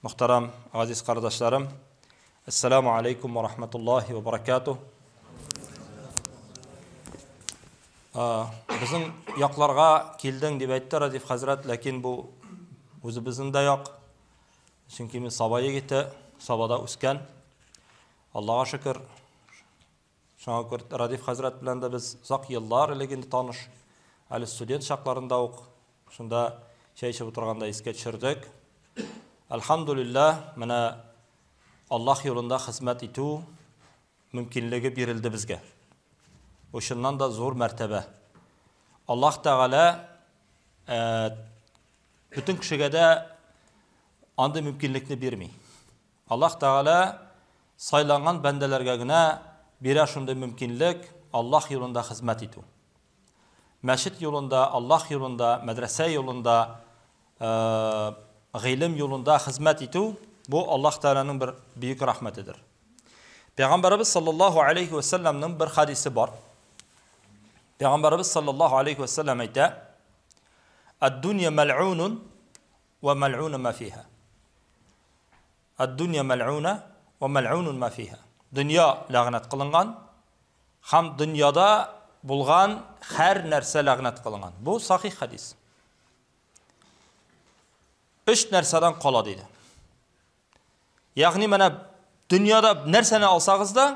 Мөхтәрәм, газиз кардашларым, Әссәләмү алейкум ва рахмәтуллахи ва баракату. Безнең якларга килдең дип әйтте Радиф хәзрәт, ләкин бу үзебезнең дә як. Чөнки мин Саба егете, Сабада үскән. Аллага шөкер, Шуңа күрә Радиф хәзрәт белән дә без озак еллар элек инде таныш. Әле студент чакларында ук шунда чәй эчеп утырганда искә төшердек. Әлхәмдүлилләһ, менә Аллаһ юлында хезмәт итү мөмкинлеге бирелде безгә. Бу чыннан да зур мәртәбә. Аллаһ Тәгалә бөтен кешегә дә андый мөмкинлекне бирми. Аллаһ Тәгалә сайланган бәндәләргә генә бирә шундый мөмкинлек Аллаһ юлында хезмәт итү. Мәчет юлында, Аллаһ юлында, мәдрәсә юлында, гыйлем юлында хезмәт итү, бу Аллаһ Тәгаләнең бер бөек рәхмәтедер. Пәйгамбәребез саллаллаһу алейхи ва саллямның бер хадисе бар. Пәйгамбәребез саллаллаһу алейхи ва саллям әйтә: "Ад-дунья мал'унун Вә мәлгуна мә фиһа. Ад-дөнья мәлгуна вә мәлгунун мә фиһа. Дөнья ләгънәт кылынган һәм дөньяда булган һәр нәрсә ләгънәт кылынган. Бу сахих хәдис. Өч нәрсәдән кала диде. Ягъни менә дөньяда нәрсәне алсагыз да,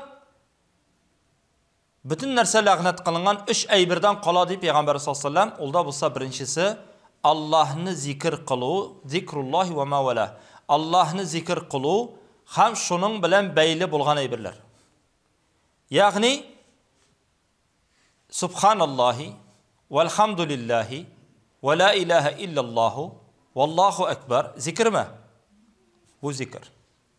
Бөтен нәрсә ләгънәт кылынган өч әйбердән кала, ди пәйгамбәребез саллаллаһу галәйһи ва сәлләм, ул да булса беренчесе, Аллаһны зикер кылу, зикруллаһи ва ма валәһ, Аллаһны зикер кылу һәм шуның белән бәйле булган әйберләр. Ягъни, Субханаллаһи, вәлхәмдүлиллаһи, вә лә иләһә илләллаһу, валлаһу әкбәр, зикерме? Бу зикер.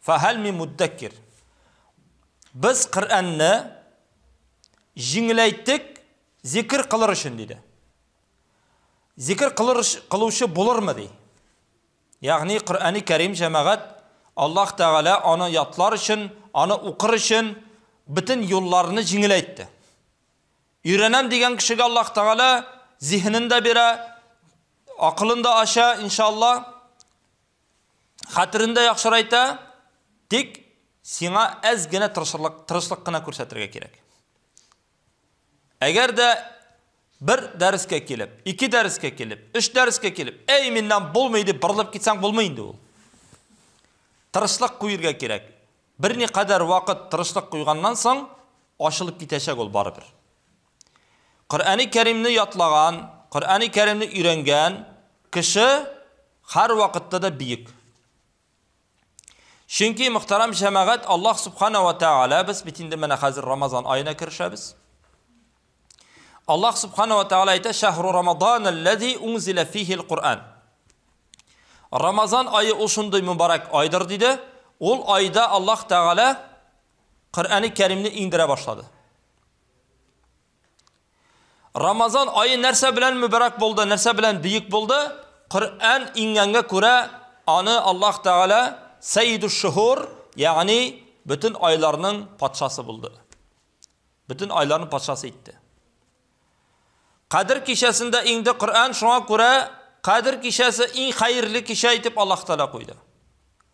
Фахәл мин муддәккир. Без Коръәнне җиңеләйттек зикр кылыр өчен диде. Зикр кылыр кылучы булырмы ди? Ягъни Коръәни Кәрим җәмәгать Аллаһ Тәгалә аны ятлар өчен, аны укыр өчен бөтен юлларны җиңеләйтте. Өйрәнәм дигән кешегә Аллаһ Тәгалә зиһенен дә бирә, акылын да ача, иншалла. хәтерендә яхшырайта, тик сиңа әз генә тырышырлык, тырышлык кына күрсәтергә кирәк. Әгәр дә бер дәрескә килеп, ике дәрескә килеп, өч дәрескә килеп, әй миннән булмый дип борылып китсәң булмый инде ул. Тырышлык куергә кирәк. Берникадәр вакыт тырышлык куйганнан соң ачылып китәчәк ул барыбер. Коръәни Кәримне ятлаган, Коръәни Кәримне өйрәнгән кеше һәрвакытта да биек. Чөнки, мөхтәрәм җәмәгать, Аллаһ Субхана ва Тәгалә, без бит инде менә хәзер Рамазан аена керешәбез. Аллаһ Субхана ва Тәгалә әйтә, «Шәһру Рамадан аллази унзилә фихи аль-Коръән». Рамазан айы ул шундый мөбарәк айдыр диде. Ул айда Аллаһ Тәгалә Коръәни Кәримне иңдерә башлады. Рамазан айы нәрсә белән мөбәрәк булды, нәрсә белән бөек булды? Коръән иңгәнгә күрә, аны Аллаһ Тәгалә Сәйидүш шухур, ягъни бөтен айларның патшасы булды. Бөтен айларның патшасы итте. Кадр кичәсендә иңде Коръән, шуңа күрә Кадр кичәсе иң хәерле кичә итеп Аллаһ Тәгалә куйды.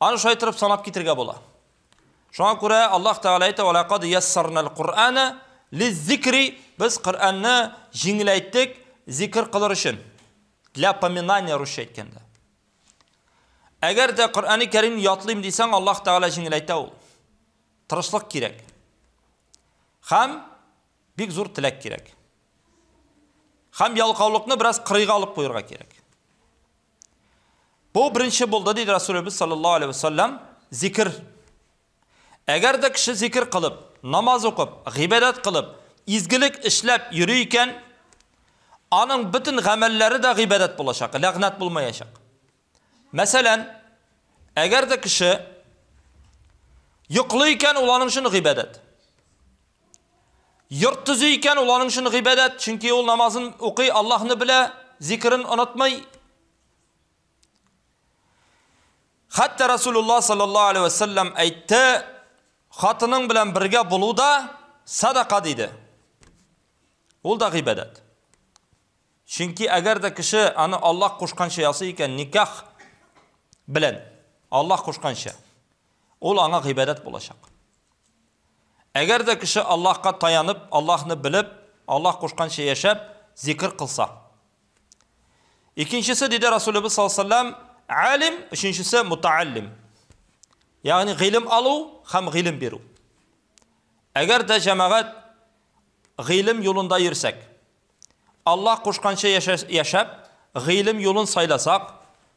Аны шулай торып санап китергә була. Шуңа күрә Аллаһ Тәгалә әйтә: "Ва лакад яссарнал Кур'ана лиззикри" Без Коръәнне җиңеләйттек зикр кылыр өчен. Для поминания русча әйткәндә. Әгәр дә Коръәни Кәрим ятлыйм дисәң, Аллаһ Тәгалә җиңеләйтә ул. Тырышлык кирәк. Хәм бик зур теләк кирәк. Хәм ялкаулыкны бераз кырыйга алып куярга кирәк. Бу беренче булды, диде Расулебез саллаллаху алейхи вәсәлләм, зикр. Әгәр дә кеше зикр кылып, намаз укып, гыйбадәт кылып, изгелек эшләп йөри икән, аның бөтен гамәлләре дә гыйбадәт булачак, ләгънәт булмаячак. Мәсәлән, әгәр дә кеше йоклый икән, ул аның өчен гыйбадәт. Йорт төзи икән, ул аның өчен гыйбадәт, чөнки ул намазын укый, Аллаһны белә, зикрен онытмый. Хәтта Расулулла саллаллаһу алейхи ва саллям әйтте, хатының белән бергә булу да садака диде. Ул да гыйбадәт. Чөнки әгәр дә кеше аны Аллаһ кушканча ясый икән, никах белән Аллаһ кушканча, ул аңа гыйбадәт булачак. Әгәр дә кеше Аллаһка таянып, Аллаһны белеп, Аллаһ кушканча яшәп, зикер кылса. Икенчесе, диде Расулебез саллаллаху алейһи ва сәлләм, алим, өченчесе мутааллим. Ягъни гыйлем алу һәм гыйлем бирү. Әгәр дә җәмәгать гыйлем юлында йөрсәк, Аллаһ кушканча яшәп, гыйлем юлын сайласак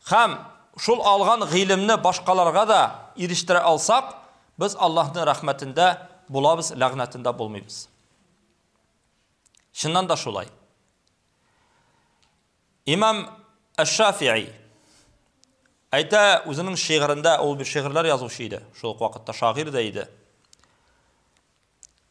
һәм шул алган гыйлемне башкаларга да ирештерә алсак, без Аллаһның рәхмәтендә булабыз, ләгънәтендә булмыйбыз. Чыннан да шулай. Имам Әш-Шафии Әйтә үзенең шигырендә, ул бер шигырьләр язучы иде, шул ук вакытта шагыйрь дә иде.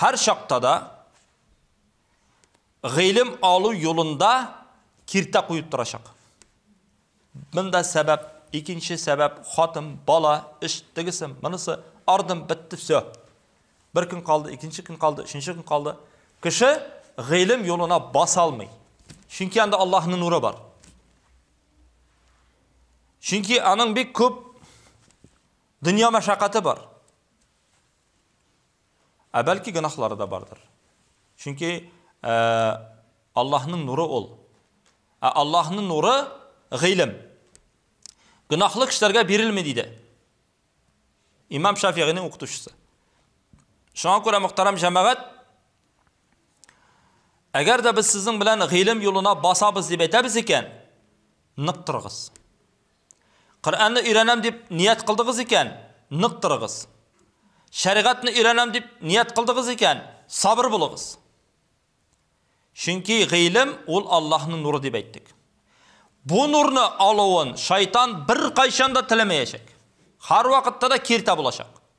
Һәр чакта да гыйлем алу юлында киртә куеп торачак. Монда сәбәп, икенче сәбәп, хатын, бала, эш, тегесе, монысы, ардым, бетте, всё. Бер көн калды, икенче көн калды, өченче көн калды. Кеше гыйлем юлына баса алмый. Чөнки анда Аллаһның нуры бар. Чөнки аның бик күп дөнья мәшәкате бар. Ә бәлки гөнаһлары да бардыр. Чөнки Аллаһның нуры ул. Ә Аллаһның нуры гыйлем. Гөнаһлы кешеләргә бирелми диде. Имам Шафигыйның укытучысы. Шуңа күрә мөхтәрәм җәмәгать, әгәр дә без сезнең белән гыйлем юлына басабыз дип әйтәбез икән, нык торыгыз. Коръәнне өйрәнәм дип ният кылдыгыз икән, нык торыгыз. Шәригатьне өйрәнәм дип ният кылдыгыз икән, сабыр булыгыз. Чөнки гыйлем ул Аллаһның нуры дип әйттек. Бу нурны алуын шайтан беркайчан да теләмәячәк. Һәрвакытта да киртә булачак.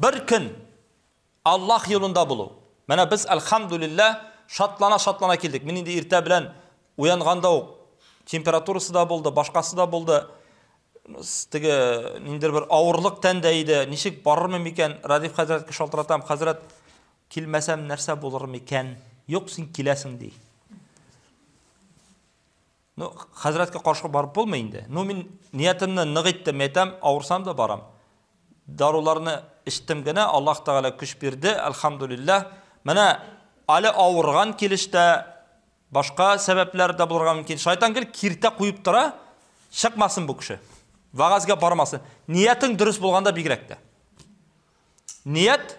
Бер көн Аллаһ юлында булу. Менә без, әлхәмдүлилләһ, шатлана-шатлана килдек. Мин инде иртә белән уянганда ук температурасы да булды, башкасы да булды. Теге ниндер бер авырлык тәндә иде. Ничек барырмы микән? Радиф хәзрәткә шалтыратам. Хәзрәт, килмәсәм нәрсә булыр микән? Юк, син киләсең, ди. Ну, хәзрәткә каршы барып булмый инде. Ну, мин ниятемне нык иттем, әйтәм, авырсам да барам. Даруларны эчтем генә, Аллаһ Тәгалә көч бирде, альхамдулиллаһ. Менә әле авырган килештә башка сәбәпләр дә булырга мөмкин. Шайтан гел киртә куеп тора, чыкмасын бу кеше. Вагазга бармасын. Ниятең дөрес булганда бигрәк тә. Ният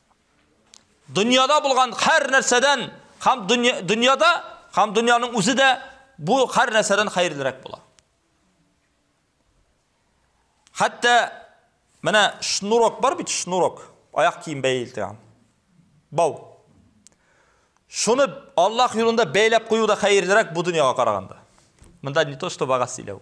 Дөньяда булган хәр нәрсәдән һәм дөньяда һәм дөньяның үзе дә бу хәр нәрсәдән хәерлерәк була. Хәтта менә шнурок бар бит, шнурок, аяк кием бәйләтәм. Бау. Шуны Аллаһ юлында бәйләп кую да хәерлерәк бу дөньяга караганда. Монда не то что бага сөйләү.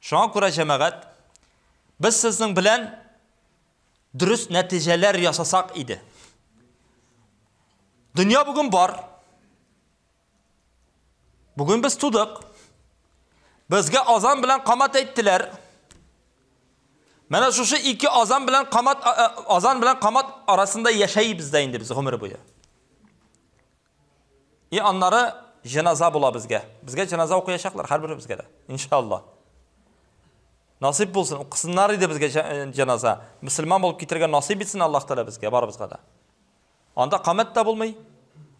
Шуңа күрә, җәмәгать, без сезнең белән дөрес нәтиҗәләр ясасак иде. Дөнья бүген бар. Бүген без тудык. Безгә азан белән камат әйттеләр. Менә шушы ике азан белән камат азан белән камат арасында яшәйбез дә инде без гомер буе. И аннары җеназа була безгә. Безгә җеназа укыячаклар һәрберебезгә дә. Иншалла. Насип булсын, укысыннар иде безгә җеназа. Мөселман булып китергә насип итсен Аллаһ Тәгалә безгә барыбызга да. Анда камәт тә булмый,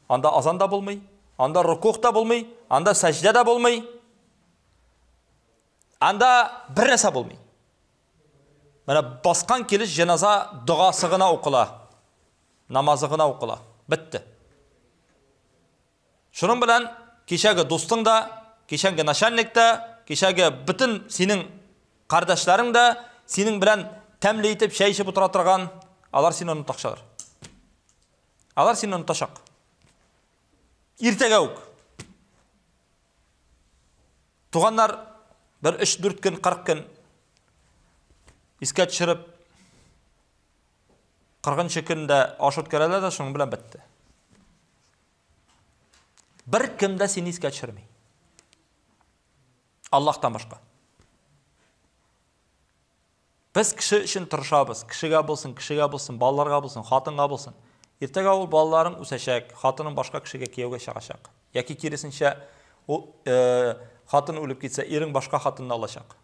анда азан да булмый, анда рукух та булмый, анда сәҗдә дә булмый. Анда бер нәрсә булмый. Менә баскан килеш җеназа догасы гына укыла. намазы гына укыла. Бетте. Шуның белән кичәге дустың да, кичәнге начальник та, кичәге бөтен синең кардәшләрең дә, синең белән тәмле итеп чәй эчеп утыра торган, алар сине онытачаклар. Алар сине онытачак. Иртәгә үк. Туганнар бер 3-4 көн, 40 көн искә төшереп 40 көн дә аш үткәрәләр дә шуның белән бетте. Бер кем дә сине искә төшерми. Аллаһтан башка. Без кеше өчен тырышабыз. Кешегә булсын, кешегә булсын, балаларга булсын, хатынга булсын. Иртәгә ул балаларың үсәчәк, хатының башка кешегә кияүгә чыгачак. Яки киресенчә, ул э, хатын үлеп китсә, ирең башка хатынны алачак.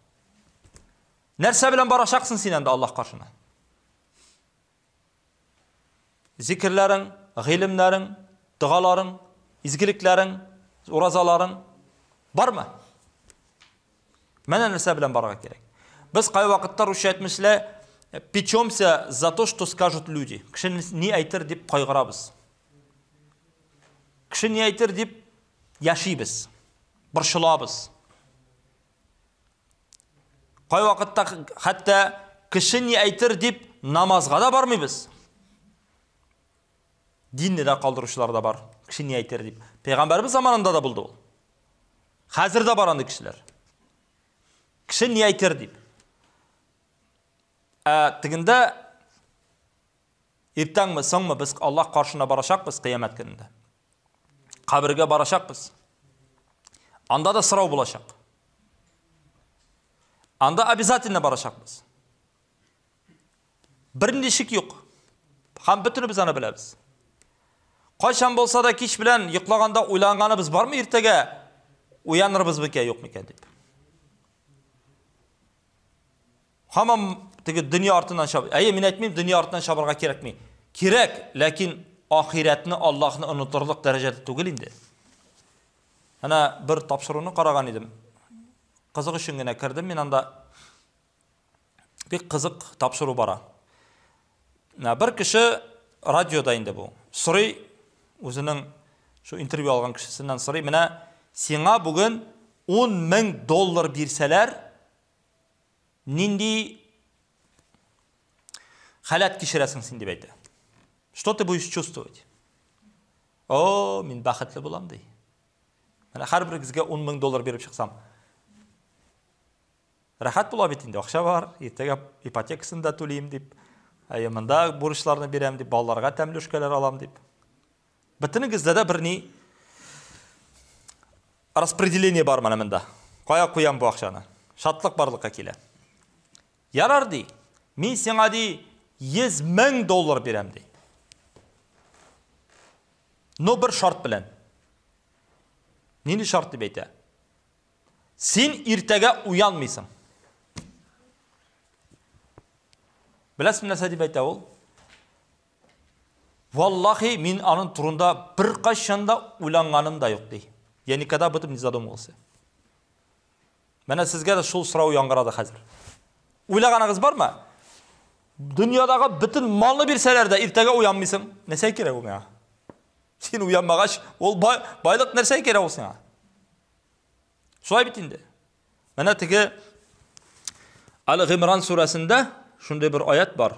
Нәрсә белән барачаксың син әнде Аллаһ каршына? Зикерләрең, гыйлемнәрең, догаларың, изгелекләрең, уразаларың бармы? Менә нәрсә белән барырга кирәк. Без кай вакытта русча әйтмешли, печемся за то, что скажут люди. Кеше ни әйтер дип кайгырабыз. Кеше ни әйтер дип яшибез, борчылабыз. Кайвакытта хәтта кеше ни әйтер дип намазга да бармыйбыз. Динне дә калдыручылар да бар. Кеше ни әйтер дип. Пәйгамбәрбез заманында да булды ул. Хәзер дә бар андый кешеләр. Кеше ни әйтер дип. Ә тегендә Иртәңме, соңмы без Аллаһ каршына барачакбыз кыямәт көнендә. Кабергә барачакбыз. Анда да сорау булачак. Анда обязательно барачакбыз. Бернинди шик юк. Һәм бөтенебез аны беләбез. Кайчан булса да кич белән йоклаганда уйланганыбыз бармы иртәгә уянырбыз микән, юк микән дип. Һаман теге дөнья артыннан чаб. Әйе, мин әйтмим, дөнья артыннан чабарга кирәкми. Кирәк, ләкин ахирәтне, Аллаһны онытырлык дәрәҗәдә түгел инде. Әнә бер тапшыруны караган идем. Кызык өчен генә кердем мин анда. Бик кызык тапшыру бара. Ә бер кеше радиода инде бу. Сорый үзенең шу интервью алган кешесеннән сорый, менә сиңа бүген 10 мең доллар бирсәләр, нинди халәт кичерәсең син дип әйтә. Что ты будешь чувствовать? О, мин бәхетле булам ди. Менә һәрберегезгә 10 мең доллар биреп чыксам. Рәхәт була бит инде, акча бар, иртәгә ипотекасын да түлим дип, әйе, монда бурычларны бирәм дип, балаларга тәмле эшкәләр алам дип. Бөтенегездә дә бер ни распределение бар менә монда. Кая куям бу акчаны? Шатлык барлыкка килә. Ярар ди. Мин сиңа ди 100 мең доллар бирәм ди. Но бер шарт белән. Нинди шарт дип әйтә? Син иртәгә уянмыйсың. Беләсең нәрсә дип әйтә ул? Валлахи, мин аның турында беркайчан да уйланганым да юк, ди. Я никогда об этом не задумывался. Менә сезгә дә шул сорау яңгырады хәзер. Уйлаганыгыз бармы? Дөньядагы бөтен малны бирсәләр дә иртәгә уянмыйсың. Нәрсә кирәк ул миңа? Син уянмагач, ул бай, байлык нәрсә кирәк ул сиңа? Шулай бит инде. Менә теге Аль-Гимран сүрәсендә шундый бер аят бар.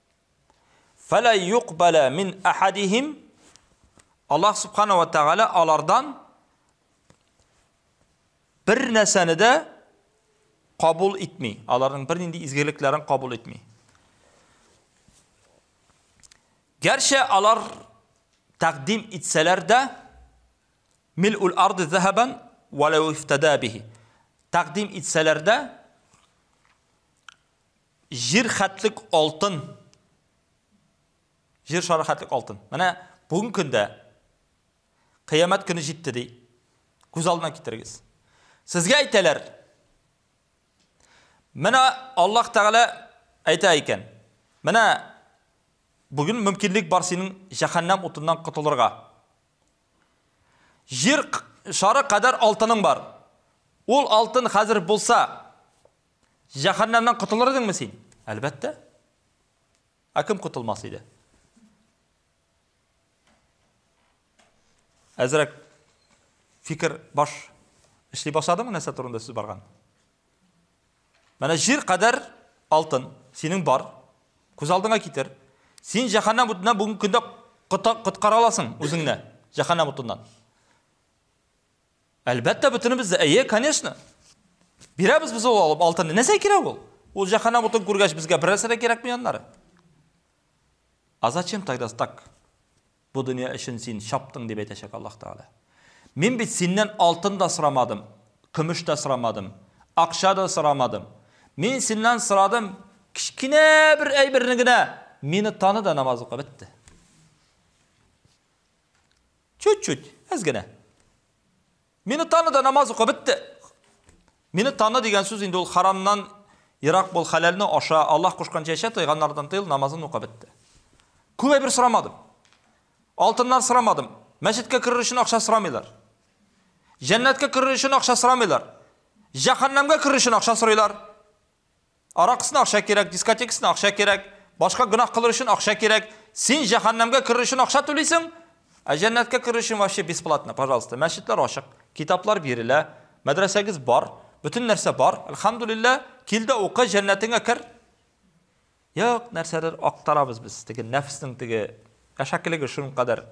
Фәлә юкбәлә мин әхәдихим. Аллах Субхана ва Тәгалә алардан бер нәрсәне дә кабул итми. Аларның бер нинди изгелекләрен кабул итми. Гәрчә алар тәкъдим итсәләр дә мил ул арды зәһәбән ва лау ифтада бихи. Тәкъдим итсәләр дә Җир хәтлек алтын. Җир шары хәтлек алтын. Менә бүгенге көндә кыямәт көне җитте ди. Күз алдына китерегез. Сезгә әйтәләр. Менә Аллаһ Тәгалә әйтә икән. Менә бүген мөмкинлек бар синең җәһәннәм утыннан котылырга. Җир шары кадәр алтының бар. Ул алтын хәзер булса, Җәһәннәмнән котылыр идеңме син? Әлбәттә. Ә кем котылмас иде? Әзрәк фикер баш эшли башладымы нәрсә турында сүз барган? Менә җир кадәр алтын синең бар. Күз алдыңа китер. Син җәһәннәм утыннан бүгенге көндә коткара аласың үзеңне җәһәннәм утыннан. Әлбәттә, бөтенебез дә, әйе, конечно. Бирәбез без ул алып алтынны. Нәрсә кирәк ул? Ул җәһәннәм утын күргәч, безгә бер нәрсә дә кирәкми аннары. А зачем тогда так? Бу дөнья өчен син чаптың дип әйтәчәк Аллаһ Тәгалә. Мин бит синнән алтын да сорамадым, көмеш тә сорамадым, акча да сорамадым. Мин синнән сорадым кечкенә бер әйберне генә. Мине таны да намаз ука бетте. Чуть-чуть, әз генә. Мине таны да намаз ука, бетте. Мине таны дигән сүз инде ул харамнан ерак бул, хәләлне аша, Аллаһ кушканча яшә, тыйганнардан тыел, намазын ука, бетте. Күп әйбер сорамадым. Алтыннар сорамадым. Мәчеткә керер өчен акча сорамыйлар. Җәннәткә керер өчен акча сорамыйлар. Җәһәннәмгә керер өчен акча сорыйлар. Аракысына акча кирәк, дискотекасына акча кирәк, башка гөнаһ кылыр өчен акча кирәк. Син җәһәннәмгә керер өчен акча түлисең, ә җәннәткә керер өчен вообще бесплатно, пожалуйста. Мәчетләр ачык, китаплар бирелә, мәдрәсәгез бар, бөтен нәрсә бар. Әлхәмдүлиллә, кил дә укы, җәннәтеңә кер. Юк, нәрсәдер актарабыз без, теге нәфеснең теге әшәкелеге шуның кадәр.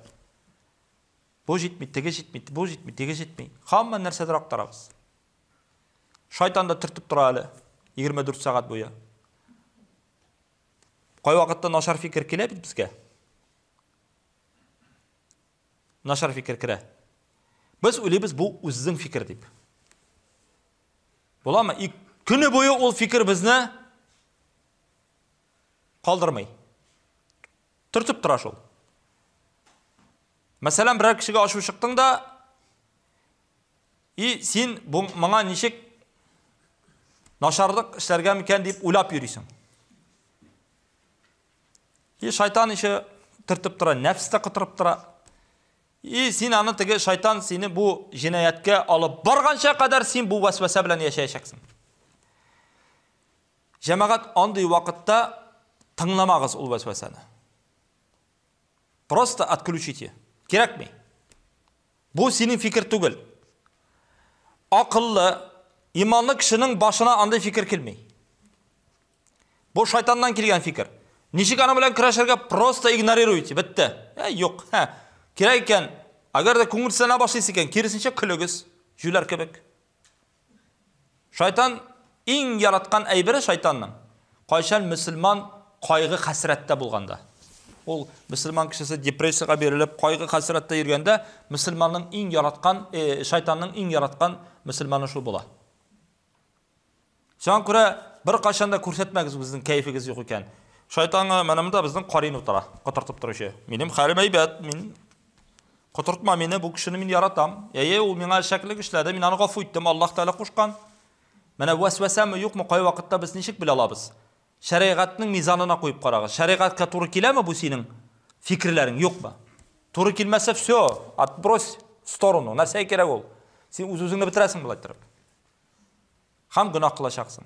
Бу җитми, теге җитми, бу җитми, теге җитми. Хамма нәрсәдер актарабыз. Шайтан да төртеп тора әле 24 сәгать буе. Кайвакытта начар фикер килә бит безгә. Начар фикер керә. Без уйлыйбыз бу үзең фикер дип. Буламы? И көне буе ул фикер безне калдырмый. Төртеп тора шул. Мәсәлән, берәр кешегә ачу чыктың да, И син моңа ничек начарлык эшләргә микән дип уйлап йөрисең. И шайтан ише төртеп тора, нәфс тә котырып тора. И син аны теге шайтан сине бу җинаяткә алып барганча кадәр син бу вәсвәсә белән яшәячәксең. Җәмәгать андый вакытта тыңламагыз ул вәсвәсәне. Просто отключите. Кирәкми. Бу синең фикер түгел. Акыллы, иманлы кешенең башына андый фикер килми. Бу шайтаннан килгән фикер. Ничек аны белән көрәшергә? Просто игнорируйте, бетте. Ә, юк, һә. Кирәк икән, әгәр дә күңелсезләнә башлыйсы икән, киресенчә көлегез, җүләр кебек. Шайтан иң яраткан әйбере шайтанның, кайчан мөселман кайгы-хәсрәттә булганда. Ул мөселман кешесе депрессиягә бирелеп, кайгы-хәсрәттә йөргәндә, мөселманның иң яраткан, э, шайтанның иң яраткан мөселманы шул була. Шуңа күрә бер кайчан да күрсәтмәгез безнең кәефегез юк икән. Шайтанга менә монда безнең карин утыра, котыртып торучы. Минем хәлем әйбәт, мин Котыртма мине, бу кешене мин яратам. Әйе, ул миңа шәклек эшләде, мин аны гафу иттем, Аллаһ Тәгалә кушкан. Менә вәсвәсәме, юкмы, кай вакытта без ничек белә алабыз? Шәригатьнең мизанына куеп карагыз. Шәригатькә туры киләме бу синең фикерләрең, юкмы? Туры килмәсә, все, отбрось в сторону. Нәрсәгә кирәк ул? Син үз-үзеңне бетерәсең болай торып. Һәм гөнаһ кылачаксың.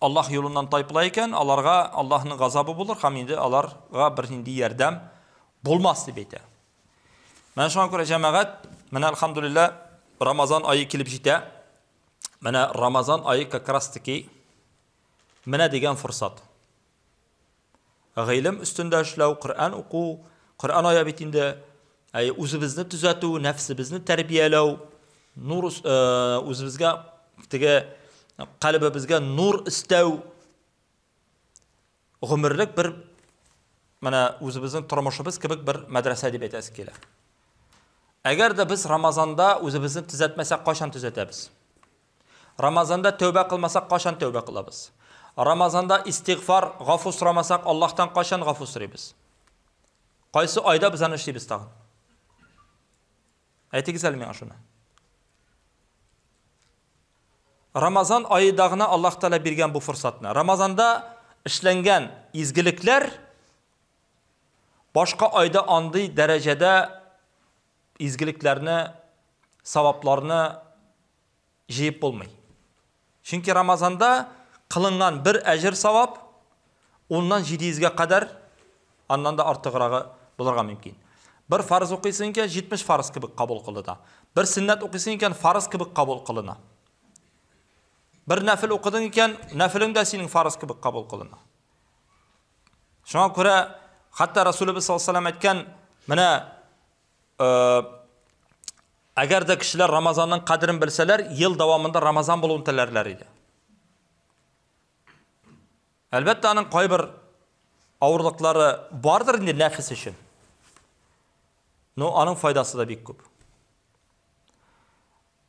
Аллаһ юлыннан тайпыла икән, аларга Аллаһның газабы булыр һәм инде аларга бернинди ярдәм булмас дип әйтә. Менә шуңа күрә җәмәгать, менә алхамдулилла, Рамазан айы килеп җитә. Менә Рамазан айы как раз таки менә дигән форсат. Гыйлем өстендә эшләү, Коръән уку, Коръән ая бит инде. Әй, үзебезне төзәтү, нәфсебезне тәрбияләү, нур э, үзебезгә теге калбыбызга нур истәү. Гомерлек бер менә үзебезнең тормышыбыз кебек бер мәдрәсә дип әйтәсе килә. Әгәр дә без Рамазанда үзебезне төзәтмәсәк, кайчан төзәтәбез? Рамазанда тәүбә кылмасак качан тәүбә кылабыз? Рамазанда истигъфар, гафу сорамасак Аллаһтан качан гафу сорыйбыз? Кайсы айда без аны эшлибез тагын? Әйтегез әле миңа шуны. Рамазан аеда гына Аллаһ Тәгалә биргән бу форсатны. Рамазанда эшләнгән изгелекләр башка айда андый дәрәҗәдә изгелекләрне, савапларны җыеп булмый. Чөнки Рамазанда кылынган бер әҗер савап уннан 700-гә кадәр аннан да артыграгы булырга мөмкин. Бер фарыз укыйсың икән, 70 фарыз кебек кабул кылына. Бер сөннәт укыйсың икән, фарыз кебек кабул кылына. Бер нәфил укыдың икән, нәфилең дә синең фарыз кебек кабул кылына. Шуңа күрә хәтта Расулыбыз саллаллаһу алейһи әйткән, менә э, әгәр дә кешеләр Рамазанның кадерен белсәләр, ел дәвамында Рамазан булуын теләрләр иде. Әлбәттә, аның кайбер авырлыклары бардыр инде нәфис өчен. Но аның файдасы да бик күп.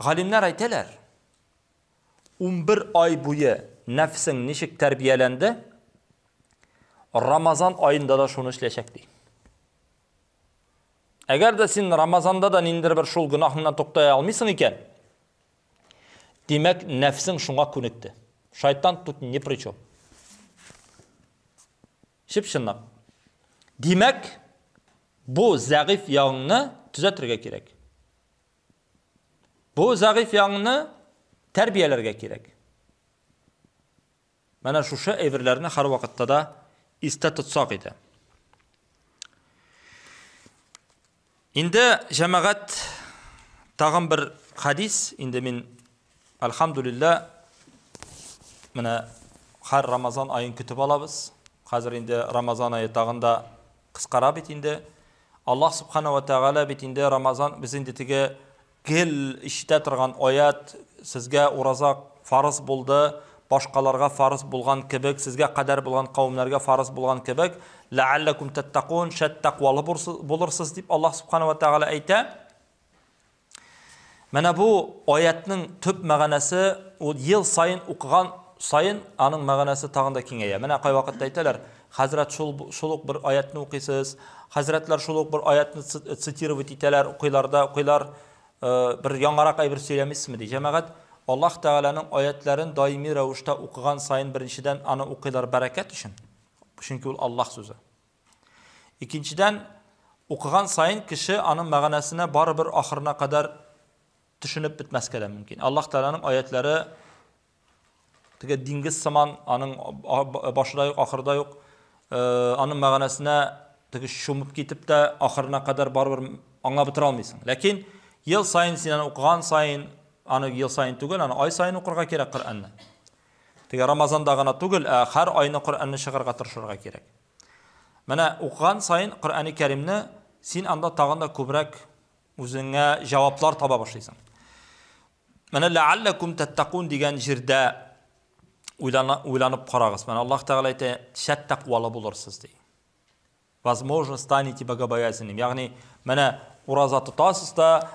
Галимнәр әйтәләр, унбер ай буе нәфсең ничек тәрбияләнде, Рамазан аенда да шуны эшләячәк ди. Әгәр дә син Рамазанда да ниндер бер шул гөнаһыңнан туктая алмыйсың икән, димәк, нәфсең шуңа күнекте. Шайтан тут ни при чем. Чып-чынлап. Димәк, бу зәгыйфь ягыңны төзәтергә кирәк. Бу зәгыйфь яңны тәрбияләргә кирәк. Менә шушы әйберләрне һәрвакытта да истә тотсак иде. Инде җәмәгать тагын бер хадис, инде мин Әлхәмдүлилләһ, менә һәр Рамазан аен көтеп алабыз. Хәзер инде Рамазан ае тагын да кыскара бит инде. Аллаһ Субхана ва Тәгалә бит инде Рамазан без инде теге гел ишетә торган аят сезгә ураза фарыз булды, башкаларга фарыз булган кебек, сезгә кадәр булган кавемнәргә фарыз булган кебек, ләалләкум тәттәкун, шәт тәкъвалы булырсыз дип Аллаһ Субхана ва Тәгалә әйтә. Менә бу аятьнең төп мәгънәсе, ул ел саен укыган саен аның мәгънәсе тагын да киңәя. Менә кайвакытта әйтәләр, хәзрәт шул шул ук бер аятьне укыйсыз, хәзрәтләр шул ук бер аятьне цитировать итәләр, укыйлар да, укыйлар, э, бер яңарак әйбер сөйләмисезме ди. Җәмәгать Аллаһ Тәгаләнең аятларын даими рәвештә укыган саен беренчедән аны укыйлар бәрәкәт өчен, чөнки ул Аллаһ сүзе. Икенчедән, укыган саен кеше аның мәгънәсенә барыбер ахырына кадәр төшенеп бетмәскә дә мөмкин. Аллаһ Тәгаләнең аятлары теге диңгез сыман, аның башыдай ук, ахырдай ук, э, аның мәгънәсенә теге шумып китеп тә ахырына кадәр барыбер аңа бетера алмыйсың. Ләкин ел саен син аны укыган саен, аны ел саен түгел, аны ай саен укырга кирәк Коръәнне. Теге Рамазанда гына түгел, ә һәр айны Коръәнне чыгарга тырышырга кирәк. Менә укыган саен Коръәни Кәримне син анда тагын да күбрәк үзеңә җаваплар таба башлыйсың. Менә ләалләкум тәттәкун дигән җирдә уйланып карагыз. Менә Аллаһ Тәгалә әйтә, шәт тәкъвалы булырсыз ди. Возможно, станете богобоязненным, ягъни, менә ураза тотасыз да,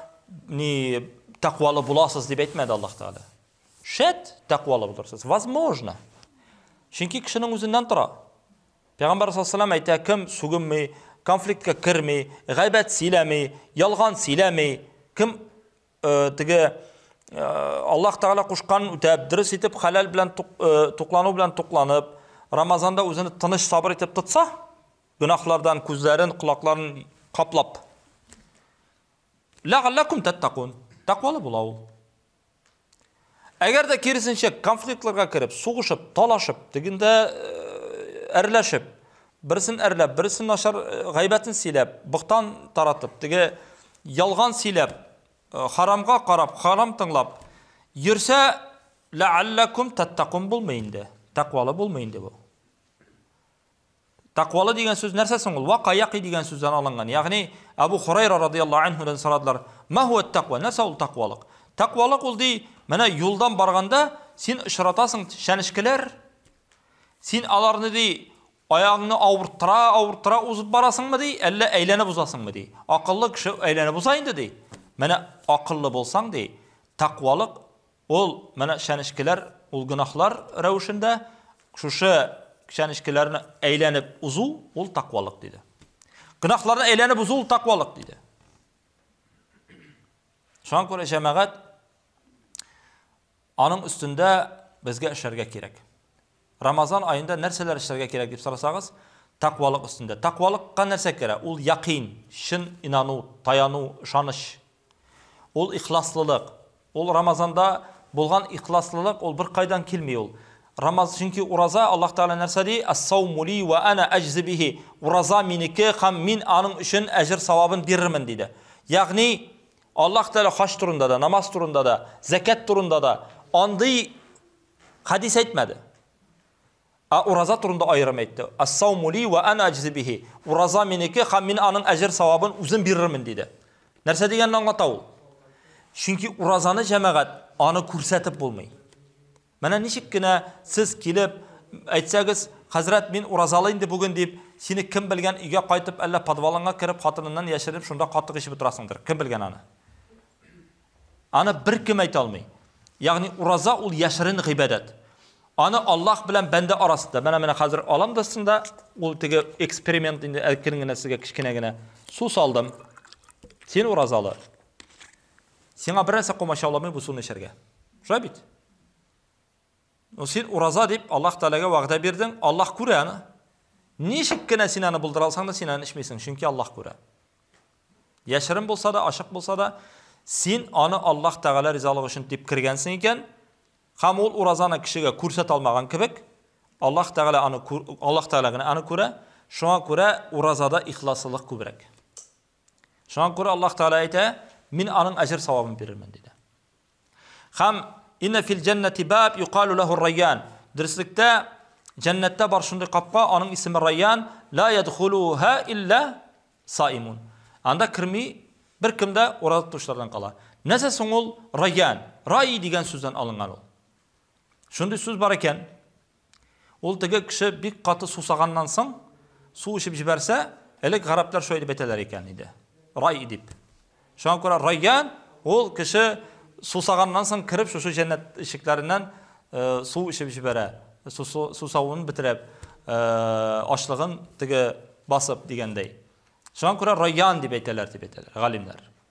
ни, тәкъвалы буласыз дип әйтмәде Аллаһ Тәгалә. Шәт тәкъвалы булырсыз. Возможно. Чөнки кешенең үзеннән тора. Пәйгамбәр саллаллаху алейһи әйтә, кем сүгенми, конфликтка керми, гайбәт сөйләми, ялган сөйләми, кем Теге Аллаһ Тәгалә кушкан үтәп, дөрес итеп хәләл белән туклану белән тукланып, Рамазанда үзен тыныч сабыр итеп тотса, гөнаһлардан күзләрен, колакларын каплап. Ләгалләкум тәттәкун. Тәкъвалы була ул. Әгәр дә киресенчә конфликтларга кереп, сугышып, талашып, тегендә әрләшеп, берсен әрләп, берсен начар гайбәтен сөйләп, бохтан таратып, теге ялган сөйләп, харамга карап, харам тыңлап йөрсә, ләалләкум таттакун булмый инде. Тәкъвалы булмый инде бу. Тәкъвалы дигән сүз нәрсә соң ул? Вака яки дигән сүздән алынган. Ягъни Абу Хурайра радияллаһу анһудан сорадылар, "Ма хуа тәкъва?" Нәрсә ул тәкъвалык? Тәкъвалык ул ди, менә юлдан барганда син очратасың чәнечкеләр. Син аларны ди аягыңны авырттыра, авырттыра узып барасыңмы ди, әллә әйләнеп узасыңмы ди? Акыллы кеше әйләнеп уза инде ди. Менә акыллы булсаң ди, тәкъвалык Ул, менә чәнечкеләр, ул гөнаһлар рәвешендә, шушы чәнечкеләрне әйләнеп узу, ул таквалык диде. Гөнаһларны әйләнеп узу, ул таквалык диде. Шуңа күрә җәмәгать аның өстендә безгә эшләргә кирәк. Рамазан аенда нәрсәләр эшләргә кирәк дип сорасагыз, таквалык өстендә. Таквалыкка нәрсә керә? Ул якин, чын инану, таяну, ышаныч, Ул ихласлылык. Ул Рамазанда булган ихласлылык, ул беркайдан килми ул. Рамаз, чөнки ураза, Аллаһ Тәгалә нәрсә ди? Ас-сауму ли ва ана аҗзи бихи. Ураза минеке һәм мин аның өчен әҗер-савабын бирермен, диде. Ягъни, Аллаһ Тәгалә хаҗ турында да, намаз турында да, зәкят турында да андый хәдис әйтмәде. Ә ураза турында аерым әйтте. Ас-сауму ли вә ана аҗзи бихи. Ураза минеке һәм мин аның әҗер-савабын үзем бирермен, диде. Нәрсә дигәнне аңлата ул? Чөнки уразаны, җәмәгать, аны күрсәтеп булмый. Менә ничек кенә сез килеп әйтсәгез, хәзрәт, мин уразалы инде бүген дип, сине кем белгән өйгә кайтып, әллә подвалыңа кереп, хатыныннан яшеренеп, шунда катык эчеп утырасыңдыр. Кем белгән аны? Аны беркем әйтә алмый. Ягъни ураза ул яшерен гыйбадәт. Аны Аллаһ белән бәндә арасында. Менә менә хәзер алам да сында ул теге эксперимент инде әкрен генә сезгә кечкенә генә су салдым. Син уразалы. Сиңа берәрсә комачауламый бу суны эчәргә. Шулай бит? Ну син ураза дип Аллаһ Тәгаләгә вәгъдә бирдең, Аллаһ күрә аны. Ничек кенә син аны булдыра алсаң да син аны эчмисең, чөнки Аллаһ күрә. Яшерен булса да, ачык булса да, син аны Аллаһ Тәгалә ризалыгы өчен дип кергәнсең икән, һәм ул уразаны кешегә күрсәтә алмаган кебек, Аллаһ Тәгалә аны Аллаһ Тәгалә генә аны күрә, шуңа күрә уразада ихласлылык күбрәк. Шуңа күрә Аллаһ Тәгалә әйтә, мин аның әҗер савабын бирермен диде. Хам инна фил джаннати баб юкалу лаху райян. Дөреслекте Җәннәттә бар шундый капка, аның исеме Райян, ла ядхулуха илля саимун. Анда керми бер кем дә ураза тотучылардан кала. Нәрсә соң ул Райян? Рай дигән сүздән алынган ул. Шундый сүз бар икән. Ул теге кеше бик каты сусаганнан соң су эчеп җибәрсә, элек гарәпләр шулай дип әйтәләр икән иде. Рай дип. Шуңа күрә райян ул кеше сусаганнан соң кереп шушы җәннәт ишекләреннән э, су эчеп җибәрә. Сусавын бетереп, э, ашлыгын теге басып дигәндәй. Шуңа күрә райян дип әйтәләр дип әйтәләр галимнәр.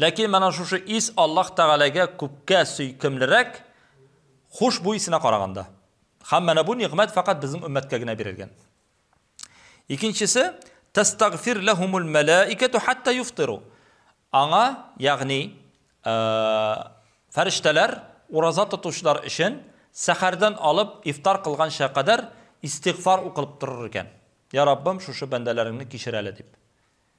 Ләкин менә шушы ис Аллаһ Тәгаләгә күпкә сөйкемлерәк хушбуй исенә караганда. Һәм менә бу нигъмәт фәкать безнең өммәткә генә бирелгән. Икенчесе, тастагфир ләһумул мәлаикату хатта юфтиру. Аңа, ягъни, э, фәрештәләр ураза тотучылар өчен сәхәрдән алып ифтар кылганча кадәр истигъфар укылып торыр икән. Я Раббым, шушы бәндәләреңне кичер әле дип.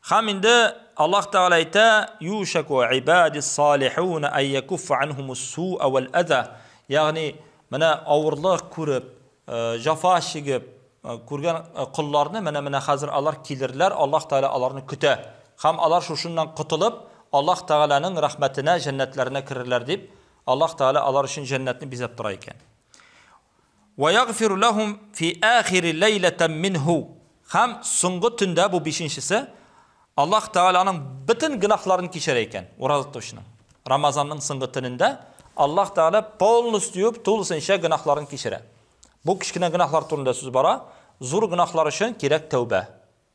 Хам инде Аллаһ Тәгалә әйтә, "Юшаку ибадис салихун ай якуф анхумус суа вал аза", ягъни менә авырлык күреп, э, җафа чигеп э, күргән э, колларны менә менә хәзер алар килерләр, Аллаһ Тәгалә аларны көтә. Хам алар шушыннан котылып, Аллаһ Тәгаләнең рәхмәтенә, җәннәтләренә керерләр дип, Аллаһ Тәгалә алар өчен җәннәтне бизәп тора икән. Вә ягъфиру ләһум фи ахири ләйләтәм минһу. Һәм соңгы төндә, бу бишенчесе, Аллаһ Тәгаләнең бөтен гөнаһларын кичерә икән, ураза тотучының. Рамазанның соңгы төнендә Аллаһ Тәгалә полностью, тулысынча гөнаһларын кичерә. Бу кечкенә гөнаһлар турында сүз бара, зур гөнаһлар өчен кирәк тәүбә.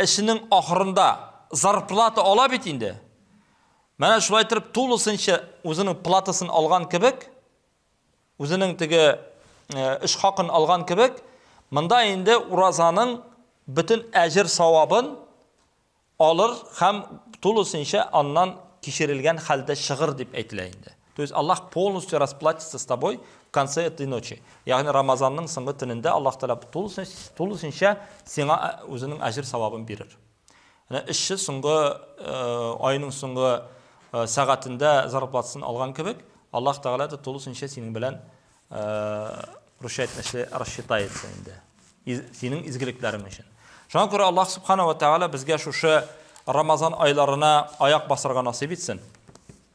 Эшенең ахырында зарплата ала бит инде. Менә шулай итеп тулысынча үзенең платасын алган кебек, үзенең теге эш хакын алган кебек, монда инде уразаның бөтен әҗер савабын алыр һәм тулысынча аннан кичерелгән хәлдә чыгыр дип әйтелә инде. То есть Аллаһ полностью расплатится с тобой в конце этой ночи. Ягъни Рамазанның соңгы төнендә Аллаһ Тәгалә тулысынча сиңа э, үзенең әҗер савабын бирер. Менә эшче соңгы э, айның соңгы э, сәгатендә зарплатасын алган кебек, Аллаһ Тәгалә дә тулысынча синең белән рушайт нәрсә рассчитает инде. Синең изгелекләрең өчен. Шуңа күрә Аллаһ Субханала Тәгалә безгә шушы Рамазан айларына аяк басарга насыйп итсен.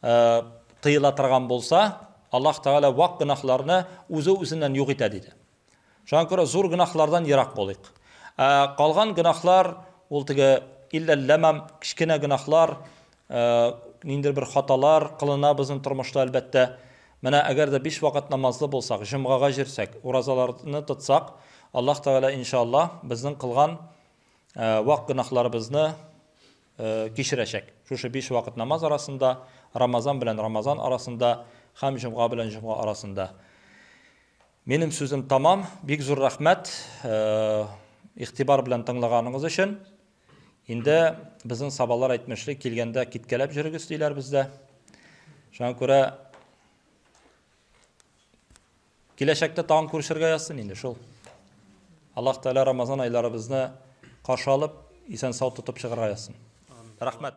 тыела торган булса, Аллаһ Тәгалә вак гөнаһларны үзе-үзеннән юк итә диде. Шуңа күрә зур гөнаһлардан ерак булыйк. Ә калган гөнаһлар ул теге илләлләмам, кечкенә гөнаһлар, ниндер бер хаталар кылына безнең тормышта әлбәттә. Менә әгәр дә биш вакыт намазлы булсак, җомгага җирсәк, уразаларны тотсак, Аллаһ Тәгалә иншаллаһ безнең кылган вак гөнаһларыбызны кичерәчәк. Шушы биш вакыт намаз арасында, Рамазан белән Рамазан арасында һәм җомга белән җомга арасында. Минем сүзем тамам. Бик зур рәхмәт игътибар белән тыңлаганыгыз өчен. Инде безнең сабалар әйтмешли, килгәндә киткәләп җөрегез диләр бездә. Шуңа күрә Киләчәктә тагын күрешергә язсын инде шул. Аллаһ Тәгалә Рамазан айларыбызны каршы алып, исән-сау тотып чыгарга язсын. Рәхмәт.